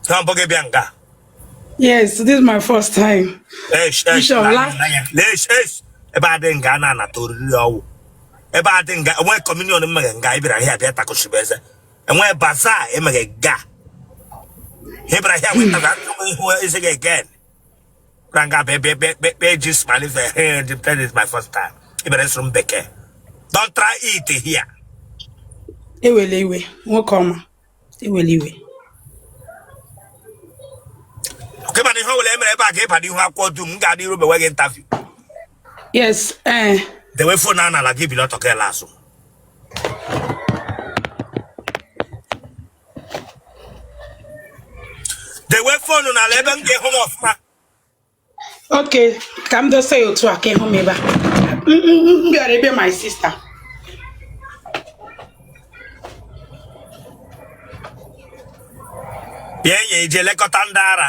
Ọ mbụ gị bịa nga? Yes, this is my first time. Eish, eish, Bishop, last... eish, eish. Ebe a dị nga a na-anata oriri ọwụ. Ebe a dị nga e nwe communion e mega nga ị bịara here bịa takụchibe eze. E nwe bazaar e mega nga ị bịara here weta ga ihu eze gị again. Ranga baby baby baby just man is a hand. That is my first time. Ị bịara ịsụrụ m Bekee. Don't try it here. Ewele iwe, nwoke ọma. Ewele iwe. Okay, but ihe ọ bụla e mere ebe a ka ịba n'ihu akwụkwọ dum m ga-adị iru mewe gị interview. Yes, eh. Dewe fon a n'ala gị bilie ọtọ ka ele asụ. dewe fon ahụ n'ala ebe m ga-ahụ m ọfụma okay ka m dosa ya otu a ka ị hụ m ebe a M- m- m bịara ebe my sister yi eje elekọta ndị ara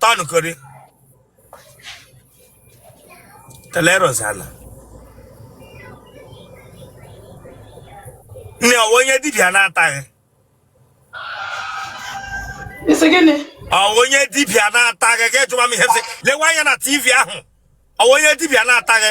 Tọnụ kori. Telerosana. Nne ọwa onye dibịa na-ataghị. Isi gịnị? Ọwa onye dibịa na-ataghị ka ịjụwa m ihe sị. Lewe anya na TV ahụ. Ọwa onye dibịa na-ataghị.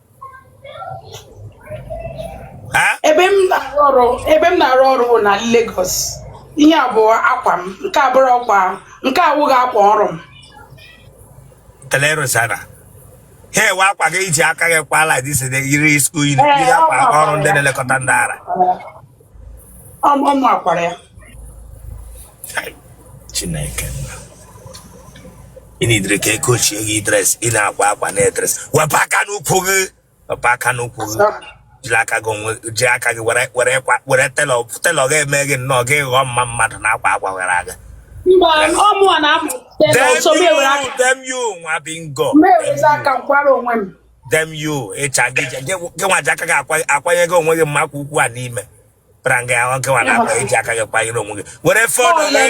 ebe m na-arụ ọrụ bụ na Lagos ihe a bụ akwa m nke abụrụ ọkwa nke a awụghị akwa ọrụ m telerosana hey ọ wụ akwa gị i ji aka gị kwa like this yiri skuul yiri eh, akwa ọrụ ndị na-elekọta ndị ara ọ mụ kwara ya chineke nna ị na-edere ka eke ochie yi dress ị na-akwa akwa na dress wepụ aka n'ukwu gị wepụ aka n'ukwu gị jiri aka gị onwe ji aka gị were were kwa were tailor tailor ga-eme gị nnọọ gị ghọọ mma mmadụ na-akwa akwa were aga mba ọ mụ na-amụ Dem ọsọ m ewere aka you, damn you, nwa bingo. m ewere aka m kwara onwe m Damn you, ịcha gị, gị nwa ji aka gị akwa- akwanye gị onwe gị mma kwa ukwu a n'ime. kpara nga ya nwoke nwa na akwa i ji aka gị kwanyere onwe gị were fon gị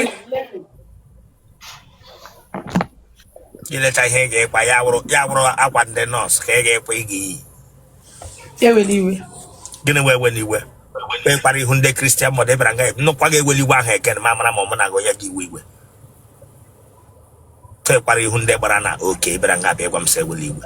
i lecha ihe ị ga-akwa ya wụrụ ya wụrụ akwa ndị nọọsụ ka ị ga-akwa ị ga-eyi ewele iwe gịnị wee wele iwe wee kpara ihu ndị kristian mmadụ ị bịara nga m nụkwa gị ewele iwe ahụ again ma mara ma mụ na gị onye gị iwe iwe fe kpara ihu ndị gbara na oke ị bịara nga bịa gwa m sị ewele iwe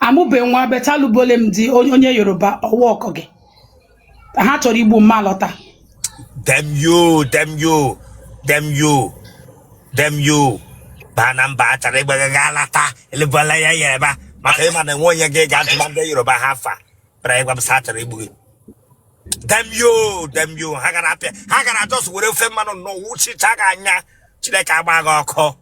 amụbe nwa betalubole m di onye onye yoruba ọwa ọkọ gị ha chọrọ igbu m m alọta damn you damn you damn you damn you baa na mba a chọrọ igbu gị gị alọta elebụla ya ya ebe a maka ịma na enwe onye gị ga-atụba ndị yoruba ha fa bịara ịgwa m sị a chọrọ igbu gị damn you damn you ha gara apịa ha gara just were ofe mmanụ nnọọ wuchicha gị anya chineke gbaa gị ọkụ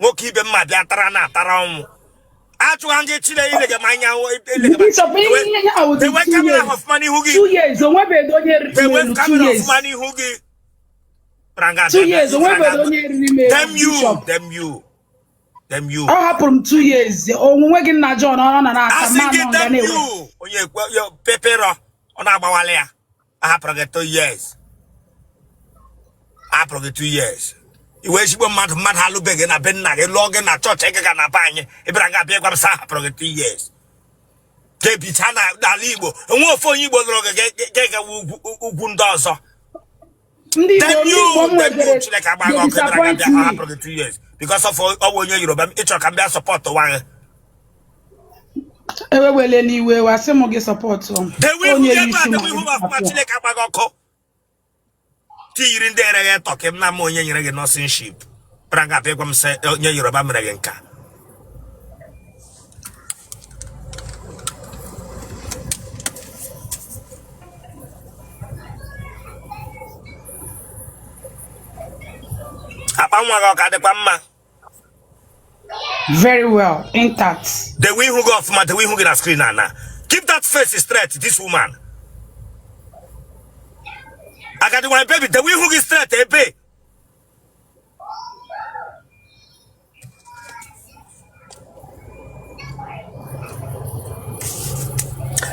nwoke ibe m abịa tara na atara ọnwụ achụwa gị chile ilege m anya dewe camera ọfụma n'ihu gị dewe camera ọfụma n'ihu gị damn you damn you damn you ọ hapụrụ m two years onwunwe gị nna John ọ na na-ata mmanụ ọga na-ewe onye peperọ ọ na-agbawala ya ahapụrụ gị two years ahapụrụ gị two years ị wụ ezigbo mmadụ mmadụ alụbe gị na be nna gị lụọ gị na chọọchị ị ga na be anyị ị bịara nga a bịa gwa m sị ahapụrụ gị two years gị bichaa n'ala igbo onwe ofe onye igbo lụrụ gị gị agawa ugwu ndị ọzọ ndị Igbo nwegere Chineke gbaa gị ọkụ ị bịara nga a bịa ahapụrụ gị two years because of ọ wụ onye Yoruba ị chọrọ ka m bịa sọpọtụwa gị ewewele n'iwe wa sị m gị sọpọtụ m ewu ihu onye gị ebe isi a m dewe ihu m ọfụma apịa. chineke gbaa gị ọkụ tiyiri ndị ere gị tọ ka m na ama onye nyere gị nọsinship bịara nga a bịa gwa m sị onye yoruba mere gị nke a akpa nwa gị ọ ka dịkwa mma very well intact dewe ihu gị ọfụma dewe ihu gị na screen a now keep that face straight this woman agadi nwanyị baby dewe ihu gị straight ebe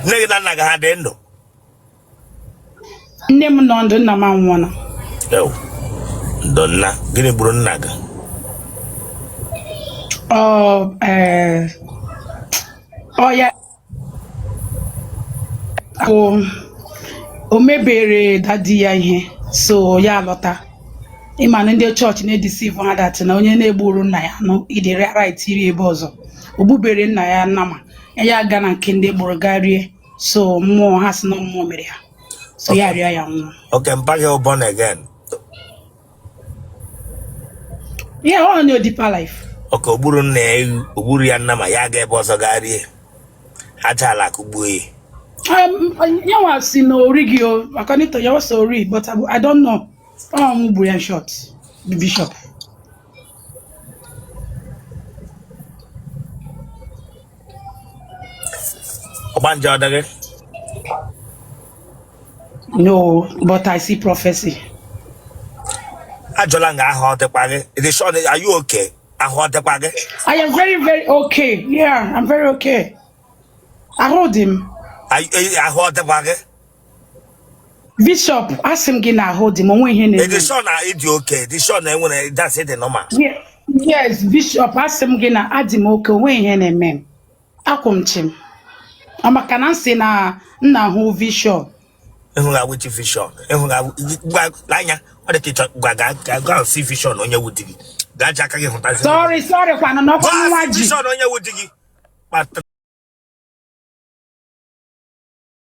nne gị na nna gị ha dị ndụ nne m nọ ndụ nna m anwụọla Ewu, ndo nna gịnị gburu nna gị ọ ee, ọ ya bụ o mebere daddy ya ihe so ya lọta ịma na ndị chọọchị na-edeceive ha that na onye na-egburu nna ya anụ idere right iri ebe ọzọ o gbubere nna ya nama ya aga na nke ndị gburu gaa rie so mmụọ ha si na mmụọ mere ya so ya rịa ya nwụọ Okay, mpa gị bụ born again. yeah ọ nọ deeper life Okay o gburu nna ya ewu, o gburu ya nama ya aga ebe ọzọ gaa rie. Aja ala kụgbuo ya. Um, ya nwa sị na o righị o according to ya nwa story but I, I don't know ọ mmụọ gburu ya in short the bishop Ọgbanje ọ dị gị. No, but I see prophecy. Ajụla m gị ahụ ọ dịkwa gị. Ị dị sure are you okay? Ahụ ọ dịkwa gị. I am very very okay. Yeah, I'm very okay. Ahụ dị m. Ahụ ọ dịkwa gị. bishop asị m gị na ahụ dị m o nweghị ihe na-eme Ị dị sure na ị dị okay, ị dị sure na enwere that's it dị normal. Ye- yes bishop asị m gị na adị m okay o nweghị ihe na-eme m akwụ m chịm ọ maka na m sị na m na-ahụ vision Ị hụga which vision, ịhụghị awụ gwa lee anya ọ dị ka ị chọ gwa gaa gaa gaa see vision onye wụ di gị. Gaa ji aka gị hụtazi. sorry sorry kwanụ n'ọkwa Gwa nwa si ji vision onye wụ di gị. Kpatara